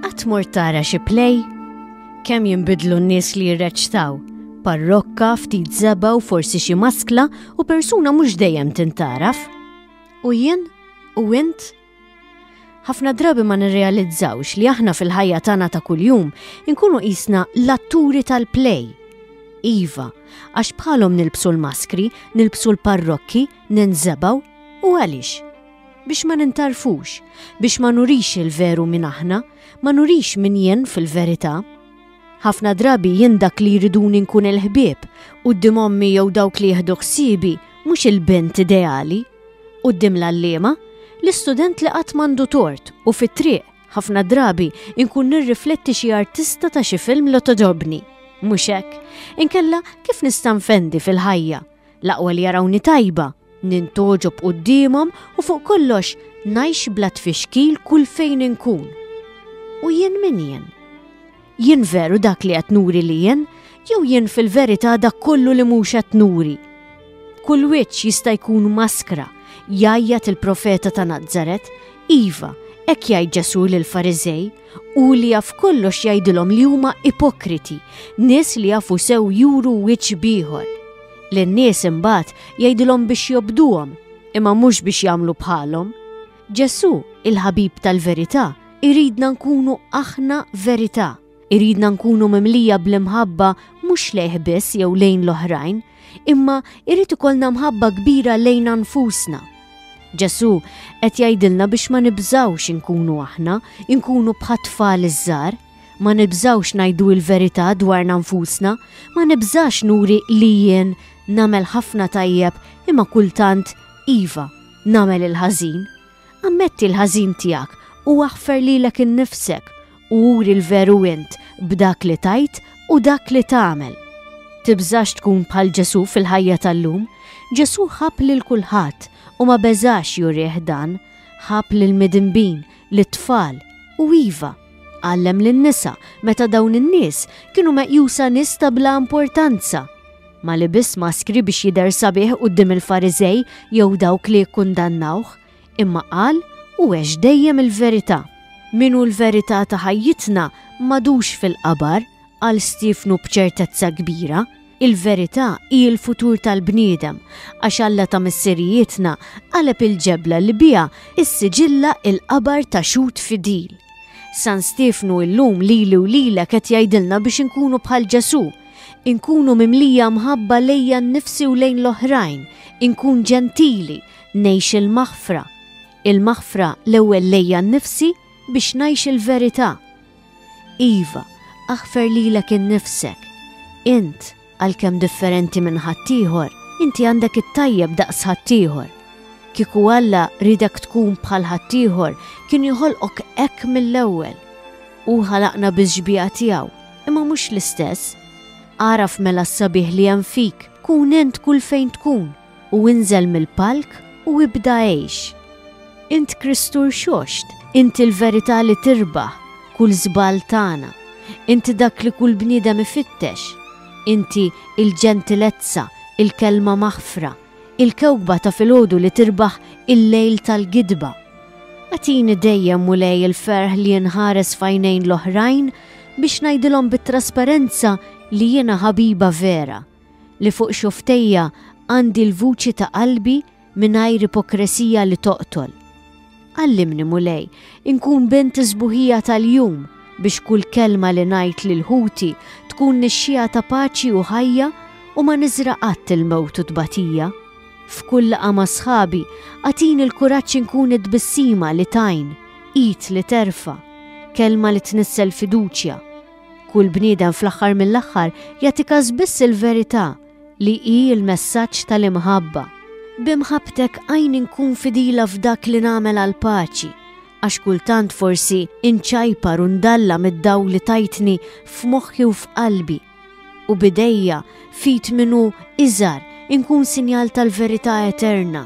Qatt mort tara xi play? Kemm jinbidlu n-nies li jirreċtaw? Parrokka, ftit zeba u forsi xi maskla u persuna mhux dejjem tintaraf. U jien? U int? ħafna drabi ma nirrealizzawx li aħna fil-ħajja tagħna ta' kuljum inkunu qisna l-atturi tal-play. Iva, għax bħalhom nilbsu l-maskri, nilbsu l-parrokki, ninżebgħu u għaliex? Biex ma nintarfux, biex ma nurix il-veru minn aħna, ma nurix minn jien fil-verità. Ħafna drabi jien dak li jriduni nkun il-ħbieb, u d ommi jew dawk li jieħdu ħsiebi, mhux il-bent ideali. U d l-allima, l-istudent li qatt mandu tort u fit-triq ħafna drabi inkun nirrifletti xi artista ta' xi film li todobni. Mhux hekk, inkella kif nista' nfendi fil-ħajja L-aqwa li jarawni tajba, nintoġob qudiemhom u fuq kollox najx bla tfixkil kull fejn inkun. U jien min jien? Jien veru dak li qed nuri li jien, jew jien fil-verità dak kollu li mhux qed nuri. Kull wiċċ jista' jkun maskra, jajjat il-profeta ta' Nazzaret, iva, hekk jgħid Ġesù lil Fariżej, u li jaf kollox jgħidilhom li huma ipokriti, nies li jafu sew juru wiċċ bieħor. Lin-nies imbagħad jgħidilhom biex jobduhom, imma mhux biex jagħmlu bħalhom. Ġesù, il-ħabib tal-verità, iridna nkunu aħna verità. Iridna nkunu mimlija bl-imħabba mhux lejh biss jew lejn l-oħrajn, imma irrid ikollna mħabba kbira lejna nfusna. Ġesu qed jgħidilna biex ma nibżawx inkunu aħna, inkunu bħat-tfal iż-żar, ma nibżawx ngħidu l-verità dwarna nfusna, ma nibżax nuri li jien namel ħafna tajjeb imma kultant iva namel il-ħażin. Ammetti l-ħażin tiegħek u aħfer lilek innifsek u uri l-veru int b'dak li tajt u dak li tagħmel. Tibżax tkun bħal Ġesu fil-ħajja tal-lum, Ġesu ħab lil kulħadd u ma beżax jurih dan, ħab lil midinbin, lit tfal u iva. Għallem lin nisa meta dawn in-nies kienu meqjusa nista bla importanza. Ma libisx maskri biex jidher sabiħ quddiem il-Fariżej jew dawk li jikkundannawh, imma qal u għex dejjem il-verità. Min hu l-verità ta' ħajjitna m'għadux fil-qabar, qal Stiefnu b'ċertezza kbira. Il-verità hi l-futur tal-bniedem, għax Alla ta' missirijietna qaleb il-ġebla li biha issiġilla l-qabar ta' xhud fidil. San Stiefnu illum lili u lilek qed jgħidilna biex inkunu bħal Ġesù, inkunu mimlija mħabba lejja nnifsi u lejn l-oħrajn, inkun ġentili, ngħix il-maħfra. Il-maħfra l-ewwel lejja nnifsi biex ngħix il-verità. Iva, aħfer lilek innifsek. Int, għalkemm differenti minn ħaddieħor, inti għandek it-tajjeb daqs ħaddieħor. Kieku Alla ridek tkun bħal ħaddieħor kien joħolqok hekk mill-ewwel. Hu ħalaqna biż-xbieha tiegħu imma mhux l-istess. Agħraf mela s-sabiħ li hemm fik, kun int kull fejn tkun, u inżel mill-palk u ibda għejx. Int Kristu rxoxt, int il-verità li tirbaħ kull żball tagħna, int dak li kull bniedem ifittex, inti il-ġentilezza, il-kelma maħfra, Il-kewkba ta' filgħodu li tirbaħ il-lejl tal-gidba. Agħtini dejjem, Mulej, il-ferħ li inħares f'għajnejn l-oħrajn biex ngħidilhom bit-trasparenza li jiena ħabiba vera, li fuq xufftejja għandi l-vuċi ta' qalbi mingħajr ipokresija li toqtol. Għallimni Mulej, inkun bent is-sbuħija tal-jum biex kull kelma li ngħid lil ħuti tkun nixxiegħa ta' paċi u ħajja u ma niżra' qatt il-mewt u t-tbatija. F'kull laqgħa ma' sħabi, agħtini l-kuraġġ inkun it-tbissima li tgħin, id li terfa', kelma li tnissel fiduċja. Kull bniedem fl-aħħar mill-aħħar jagħti kas biss il-verità, li hi l-messaġġ tal-imħabba. B'imħabbtek għinni nkun fidila f'dak li nagħmel għall-paċi, għax kultant forsi nċajpar u ndalla mid-dawl li tajtni f'moħħi u f'qalbi, u b'idejja f'id min hu iżgħar inkun sinjal tal-verità eterna,